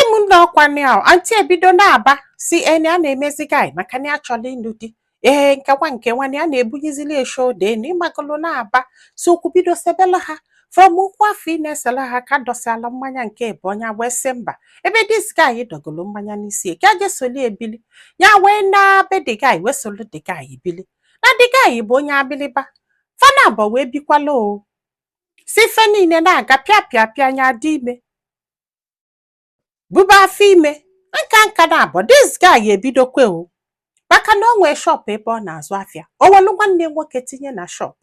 di m ndị ọkwa nị ahụ anti ebido na-aba sị ya na ya na-emezi guy maka na ya chọrọ ịlụ di ee nkekwa nke nwanne ya na-ebunyezili ya shoulder na ị magolo na-aba so okwu bido sebela ha from okwu afụ ị na-esela ha ka dọsịala mmanya nke ebe o nya wee sị mba ebe this guy dọgolo mmanya n'isi ya ka je solu ya bili ya wee na be the guy wee solu the guy bili na the guy bụ onye abiliba fa na abụọ wee bikwala o si ife niile na-aga pịa pịa pịa nya dị ime buba afọ ime nka nka na abụọ this guy ga-ebidokwa o maka na o nwee shop ebe ọ na-azụ afịa o welu nwanne ya nwoke tinye na shop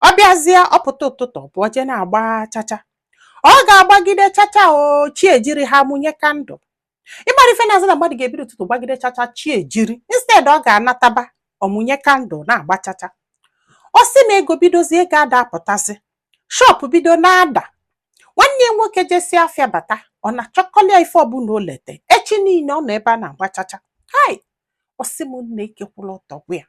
ọ bịazie ọ pụta ụtụtụ ọ pụọ jee na-agba chacha ọ ga-agbagide chacha o chi ejiri ha mụnye kandụl ịgbara ife na-azụ na mmadụ ga-ebido ụtụtụ gbagide chacha chi ejiri instead ọ ga-anataba ọ mụnye kandụl na-agba chacha ọ sị na ego bidozie ego ada apụtazi shop bido na-ada nwanne ya nwoke jesịa afịa bata ọ na-achịkọlịa ife ọbụla o lete echi niile ọ nọ ebe a na-agba chacha hai ọ sị m nne ike kwụrụ ọtọ gwụ ya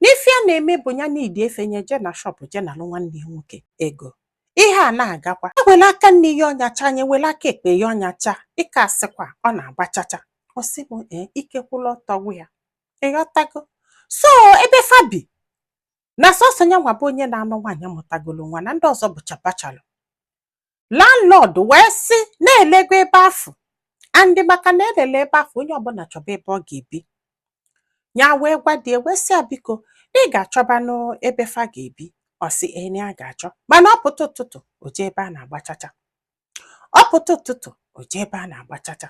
na ife ya na-eme bụ ya n'idi ife nya je na shop je nalụ nwanne ya nwoke ego ihe a na-agakwa ewela aka nni ya ọnyacha nya ewela aka ekpe ya ọnyacha ịka asịkwa ọ na-agba chacha ọ sị m ee ike kwụrụ ọtọ gwụ ya ị ghọtago so ebe fa bi na sọsọ nya nwa bụ onye na-anụ nwaanyị mụtagolo nwa na ndị ọzọ bụcha bachelor landlord wee sị na elego ebe afụ and maka na elele ebe afụ onye ọbụla chọba ebe ọ ga-ebi ya wee gwa di ya wee sị ya biko na ị ga-achọbanụ ebe fa ga-ebi ọ sị ya na ya ga-achọ mana ọ pụta ụtụtụ o jee ebe a na-agba chacha ọ pụta ụtụtụ o jee ebe a na-agba chacha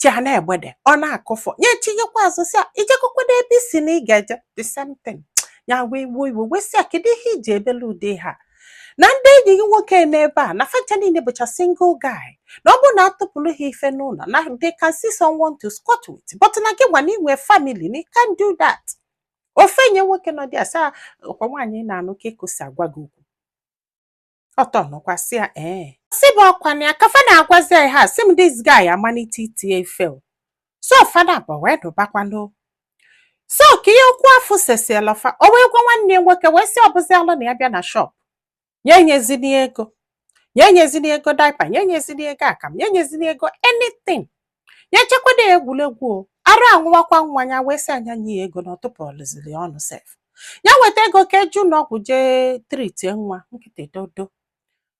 chi a na mgbede ọ na-akụfọ nye tinyekwa azụ sị ya i jekọkwadụ ebe ị sị na ị ga-eje the same thing ya wee wuo iwe wee sị ya kedu ihe i ji ebele ụdị ha na ndị enyi gị nwoke n'ebe a na facha niile bụcha single guy na ọ bụrụ na atụpụrụ ha ife n'ụlọ na they can see someone to squat with but na gị nwa na i nwe family na you can't do that ofe nye nwoke nọ dị asaa ọkwa nwaanyị na-anụ ka ekosi agwa gị okwu ọtọ nọkwasị ya ee sị bụ ọkwa na ya ka fa na-agwazi ya ha sị m this guy amalite iti ya ife o. so fa na abụọ wee nụbakwanụ so ka ihe okwu afụ sesiela fa o wee gwa nwanne ya nwoke wee sị ọ bụzialụ na ya bịa na shop nya enyezina ya ego nya enyezina ya ego diaper nya enyezina ya ego akamụ nya enyezina ya ego anything ya echekwado ya egwuregwu o arụ anwụwakwa nwa ya wee sị ya nya nye ya ego na ọ tụpụrọziri ya ọnụ sef ya weta ego ka e je ụnọ ọgwụ jee tritie nwa nkịtị dodo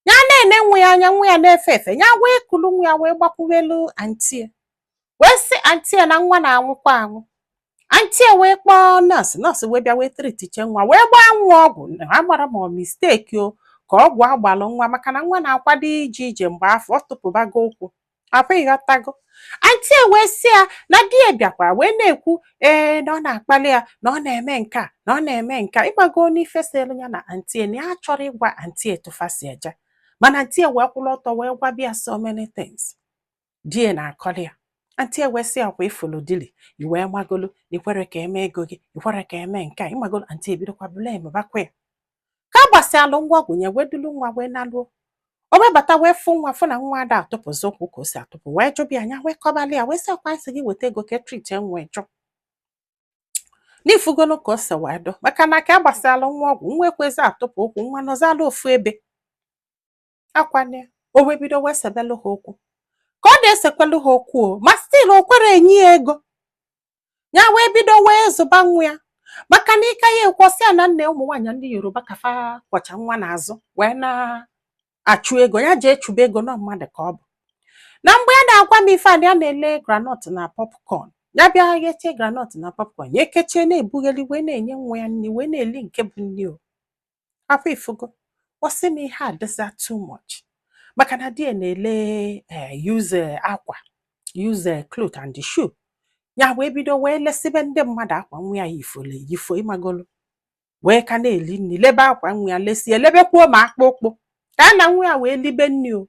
ya na-ene nwa ya anya nwa ya na-efe efe ya wee kulu nwa ya wee gbakwuwelu anti ya wee sị anti ya na nwa na-anwụkwa anwụ anti ya wee kpọọ nọọsụ nọọsụ wee bịa wee tritichaa nwa wee gbaa nwa ọgwụ amarọ m ọ mistake o ka ọgwụ agbalụ nwa maka na nwa na-akwado ije ije mgbe afụ ọ tụpụbago ụkwụ afụ ị ghọtago anti ya wee sị ya na di ya bịakwara wee na-ekwu ee na ọ na-akpali ya na ọ na-eme nke a na ọ na-eme nke a ị mago n'ife selu ya na anti ya na ya chọrọ ịgwa anti ya etu fa si eje mana anti ya wee kwụrụ ọtọ wee gwaba ya so many things di ya na-akọli ya anti ya wee sị ya ọkwa ị fụlụ dili iwee magolu i kwere ka eme ego gị i kwere ka eme nke a ị magolu anti ya ebidokwa blamebakwa ya ka a gbasịalụ nwa ọgwụ ya wee dulu nwa wee naluo o wee bata wee fụ nwa fụ na nwa ada atụpụzi ụkwụ ka o si atụpụ wee jụba ya ya wee kọbalị ya wee sị ọkwa m sị gị weta ego ka a treatie nwa ị jụ na ị fụgolu ka o si wee dụ maka na ka a gbasịalụ nwa ọgwụ nwa ekwezi atụpụ ụkwụ nwa nọzịalụ ofu ebe ọkwa na o wee bido wee sebelụ ha okwu ka ọ na-esekwelụ ha okwu o ma still o kwere enye ya ego ya wee bido wee zụba nwa ya maka na ịka ya ekwọsị ya na nee ụmụ nwaanyị ndị yoruba ka fa kwọcha nwa n'azụ wee na-achụ ego ya jee chụba ego na mmadụ ka ọ bụ na mgbe ya na-agwa m ife a na ya na-ele groundnut na popcorn ya bịa ghechie groundnut na popcorn ya ekechie na-ebugheli wee na-enye nwa ya nri wee na-eli nke bụ nri o afụ ị fụgo ọ sị m ihe a dịzi too much maka na di ya na-ele eh, use eh, akwa use eh, cloth and the shoe ya wee bido wee lesibe ndị mmadụ akwa nwa ya yifole yifo ị magolu wee ka na-eli nri lebe akwa nwa ya lesie lebekwuo ma akpụkpọ ka ya na nwa ya wee libe nri o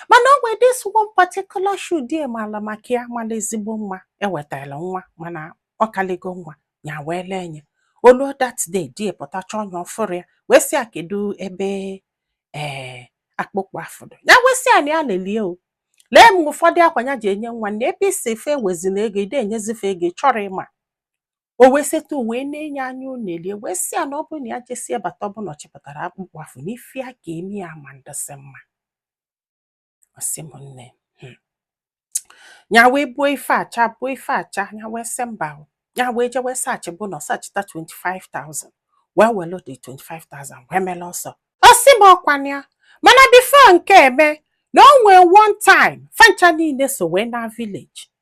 mana o nwee this one particular shoe di ya mala maka ya mala ezigbo mma e wetala nwa mana ọ kaligo nwa ya wee lee ya o lu that day di ya pụta chọọ ya ọ fụrọ ya wee sị ya kedu ebe ee akpụkpọ afụ dụ ya wee sị ya na ya leli ya o lee ma ụfọdụ akwa ya ji enye nwa na ebe ị sị fa ewezina ego ị da enyezi fa ego ị chọrọ ịma o wee setụ wee na-ene ya anya o nelie wee sị ya na ọ bụrụ na ya jesie bata ọ bụ na ọ chịpụtarọ akpụkpọ afụ n'ife ya ga-eme ya ama adịsị mma ọ sị m nne hmm. ya wee buo ife acha buo ife acha ya wee sị mba ya wee je wee searchiba ụnọ searchita 25,000 wee welu the 25,000 wee mele ọsọ ọ sị m ọkwa na ya mana before nke a mee na o nwee one time fa ncha niile so wee na village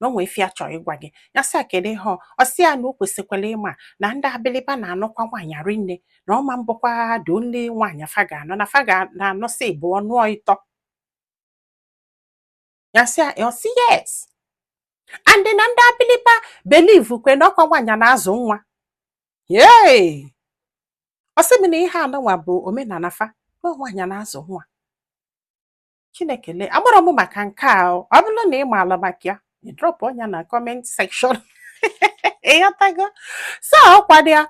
na o nwee ife ya chọọ ịgwa gị ya sị ya kedu ihe ọ ọ sị ya na o kwesịkwara ịma na ndị abiliba na-anụkwa nwaanyị rinne na ọ ma bụkwa the only nwaanyị fa ga-anụ na fa ga-anụsị ịbụọ nụọ ịtọ ya sị ya ọ sị yes and na ndị abiliba believekwa na ọkwa nwaanyị na-azụ nwa yee ọ sị m na ihe anụnwa bụ omenala fa na nwaanyị na-azụ nwa Chineke lee amarọ m maka nke a ọ bụrụ na ị maala maka ya ị drọpụọ nya na kọment sekshọn ịghọtago so ọkwado ya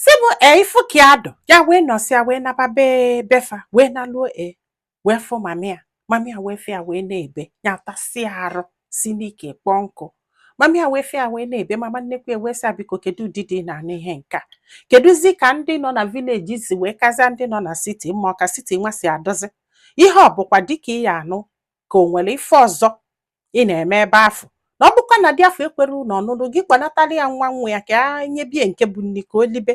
si bụ e ifu ka ya dụ ya wee nọsịa wee naba be befa wee naluo e wee fụ mami ya mami ya wee fụ ya wee na-ebe ya tasịa arụ si n'ike kpọọ nkụ mami ya wee fụ ya wee na-ebe mama nnekwu ya wee sị biko kedu ụdị di ị na-anụ ihe nke a kedụzi ka ndị nọ na vileji si wee kazịa ndị nọ na siti mma ọ ka siti nwa si adụzi ihe ọ bụkwa di ka ị ya-anụ ka o nwere ife ọzọ ị na-eme ebe afụ na ọ bụkwa na di afụ ekwerọnụ ọnụnụ gị kpọnatara ya nwa nwa ya ka a nyebie nke bụ nni ka o libe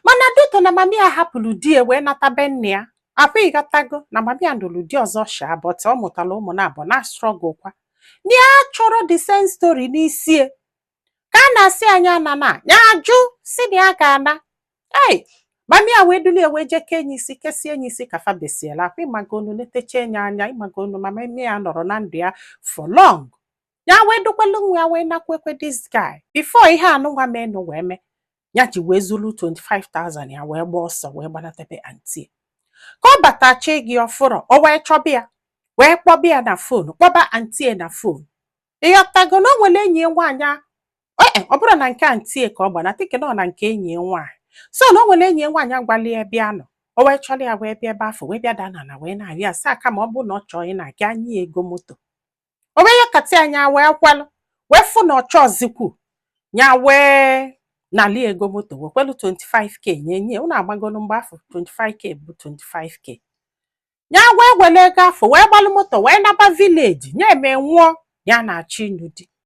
mana due to na mami ya hapụrụ di ya wee nata be nne ya ọkwa ịghọtago na mami ya nụrụ di ọzọ shaa bọt ọ mụtara ụmụ naabọ na strọgụl kwa na ya achọrọ the same story n'isi ya ka a na-asị ya nya anana ya ajụ si na ya ga-ana ei mami ya wee dulie wee jee kee nye isi kesie nye isi ka fa besiela akwa ịmagonu netecha nye anya ịmagonu na mami ya anọrọ na ndụ ya for long ya wee dukwelu nwa ya wee nakwekwe this guy before ihe anụnwa menụ wee mee ya ji wee zuru 25,000 ya wee gbaa ọsọ wee gbanate be anti ka ọ batachi gị ọ fụrọ o wee chọba ya wee kpọba ya na fon kpọba anti ya na fon ịghọtago na o nwere enyi ya nwaanyị a- e e, ọ bụrọ na nke anti ya ka ọ gbana tịkị na ọ na nke enyi ya nwaanyị so na o nwere enyi ya nwaanyị gwalụ ya ebe ya nọ o wee chọrọ ya wee bịa ebe afụ wee bịa daa n'ana wee na-arịọ ya sị ya kama ọ bụrụ na ọ chọọ ịna a ga-enye ya ego moto o wee yọkata ya nya wee kwelụ wee fụ na ọchọ ọzikwu nya wee nali ego moto wekwelu 25k nye nye unu amagonu mgbe afụ 25k bụ 25k ya wee were ego afụ wee gbalụ moto wee naba vileji ya eme nwụọ ya na-achọ ịnụ di